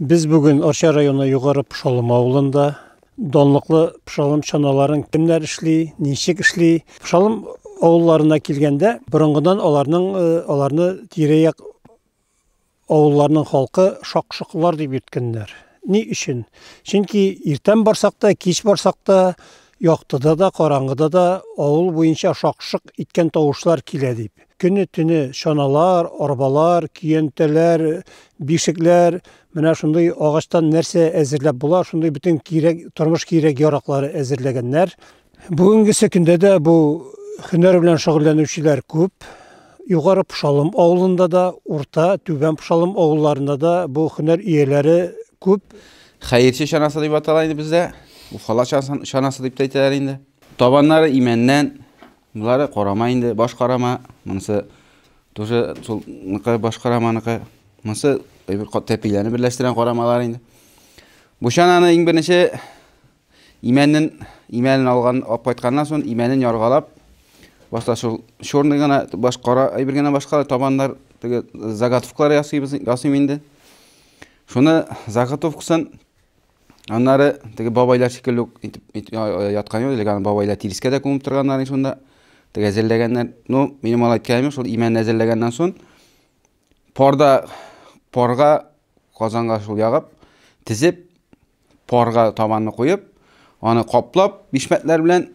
Без бүген Арча районы Югары Пшалым авылында данлыклы пшалым чаналарын кемнәр эшли, ничек эшли. Пшалым авылларына килгәндә, борынгыдан аларның э, аларны тирә-як авылларның халкы шакшыклар дип йөрткәннәр. Ни өчен? Чөнки иртән барсак та, кич барсак та Яктыда да, караңгыда да авыл буенча шак-шок иткән тавышлар килә, дип, көне-төне чаналар, арбалар, көянтәләр, бишекләр, менә шундый агачтан нәрсә әзерләп була, шундый бөтен кирәк, тормыш кирәк-яраклары әзерләгәннәр. Бүгенгесе көндә дә бу һөнәр белән шөгыльләнүчеләр күп. Югары Пшалым авылында да, Урта, Түбән Пшалым авылларында да бу һөнәр ияләре күп. Хәерче чанасы дип атала инде бездә. Уфала чанасы дип тә әйтәләр инде. Табаннары имәннән, булары карама инде, баш карама. Монысы тоже сулныкы, баш караманыкы. Монысы бер кат тәпиләрне берләштергән карамалар инде. Бу чананы иң беренче имәннен имәнен алган алып кайтканнан соң имәнен яргалап башта шул черный гына баш кара әйбер генә башка табаннар теге заготовкалар ясыйбыз ясыйм инде. Шуны заготовкасын аннары теге бабайлар шикелле үк итеп яткан юк, леган бабайлар тирескә дә күмеп торганнар шунда. Теге әзерләгәннәр. Ну, минем алай кәйме шул имән әзерләгәннән соң парда парга казанга шул ягып, тезеп парга табанны куеп, аны каплап, бишмәтләр белән,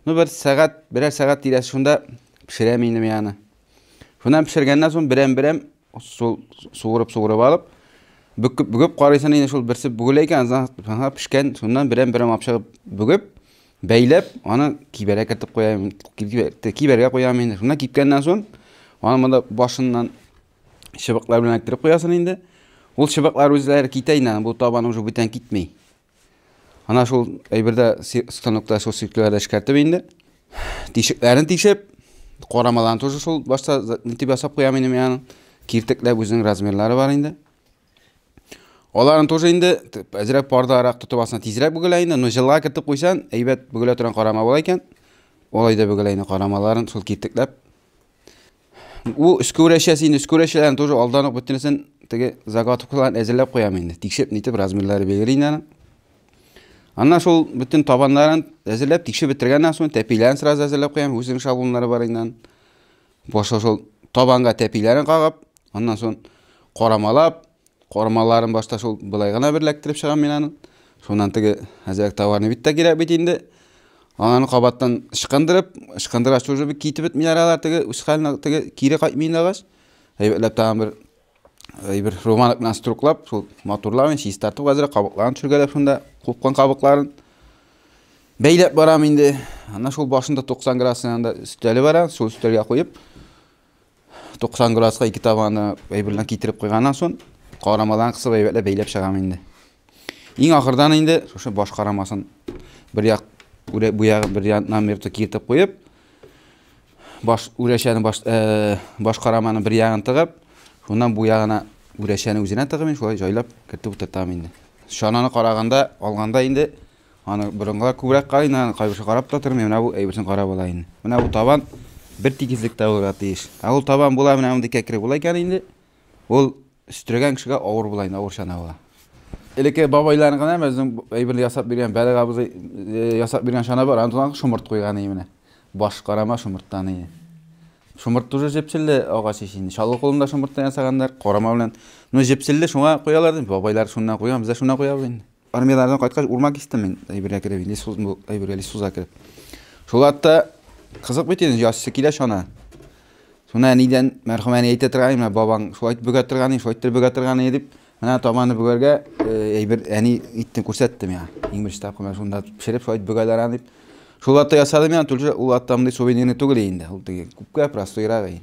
ну, бер сәгать, берәр сәгать тирәсе шунда пешерәм инде мин аны. Шуннан пешергәннән соң берәм-берәм су суырып-суырып алып, бөгеп бөгеп карыйсың инде шул берсе бүгелә икән, аңа пешкән, шуннан берәм-берәм алып чыгып бөгеп, бәйләп, аны кибәргә кертеп куям, кибәргә куям инде. Шуннан кипкәннән соң, аны монда башыннан Чыбыклар белән эләктереп куясың инде. Ул чыбыклар үзләре китә инде, бу табан уже бүтән китми. Ана шул әйбердә станокта шул сөйкләрдә эшкәртеп инде. Тишекләрен тишеп, карамаларын тоже шул башта нитеп ясап куям инде мин аның. Киртекләп үзенең размерлары бар инде. Аларын тоже инде әзрәк парда арак тотып асына тизрәк бүгелә инде, но җылга кертеп куйсан, әйбәт бүгелә торган карама була икән. Алай да бүгелә инде карамаларын шул киртекләп. Бу өскәүрәшәсе инде өскәүрәшәләрен тоже алдан ук бөтенесен теге заготовкаларын әзерләп куям инде. Тикшереп нитеп размерлары белгер инде аның. Аннан шул бөтен табаннарын әзерләп тикшереп бетергәннән соң тәпиләрен сразу әзерләп куям, үзенең шаблоннары бар инде. Башлап шул табанга тәпиләрен кагып, аннан сон карамалап, карамаларын башта шул былай гына бер ләктереп чыгам мин аны. Шуннан теге әзрәк товарны бит тә кирәк бит инде. Ананы кабаттан ычкындырып, ычкындыргач уже бит китеп бетмиләр алар теге үз халенә теге кире кайтмыйлар агач. Әйбәтләп тагын бер бер романок белән струклап шул матурлавын чистартып хәзер кабыкларын төшергәләп шунда купкан кабыкларын бәйләп барам инде ана шул башында 90 градус янында өстәле бар шул өстәлгә куеп 90 градуска ике табаны әйберлән китереп куйганнан соң карамадан кысып әйбәтләп бәйләп чыгам инде иң ахырдан инде шушы баш карамасын бер як бу ягын бер яннан бер киертеп куеп Баш үрәчәне баш э, баш караманы бер ягын тыгып, шуннан бу ягына үрәчәне үзенә тыгып мин шулай җайлап кертеп утыртам инде. Чананы караганда, алганда инде аны борынгылар күбрәк карыйны, аны кайберсе карап та тормый, менә бу әйберсен карап ала инде. Менә бу табан бер тигезлектә булырга тиеш. Ә ул табан була, менә мондый кәкре була икән инде. Ул Өстерәгән кешегә авыр була инде, авыр чанаулы. Элекке бабайларның гына безнең әйбер ясап биргән, бәләк абзый э, ясап биргән чана бар, аны тулган шомырт куйган иде менә. Баш карама шомырттан иде. Шомырт тоже җепселле агач ич инде. Чалгы кулында шомырттан ясаганнар, карама белән. Ну җепселле шуңа куялар ди, бабайлар шуннан куйган, без дә шуннан куябыз инде. Армиядән кайткач, урман кистем мин, әйбергә кереп, инде суз, бу әйбергә лисуза кереп. Шул атта кызык бит инде, яссы килә шана. Шуна әнидән, мәрхүм әни әйтә торган, менә бабаң шулай бөгә торган, шулай бөгә торган дип, менә табаны бүгәргә әйбер әни итте күрсәтте миңа. Иң беренче тапкыр менә шунда пешереп шулай бөгәләр дип. Шул атта ясадым миңа, түлше ул атта мондый сувенирный түгел инде, ул теге күпкә простойрак инде.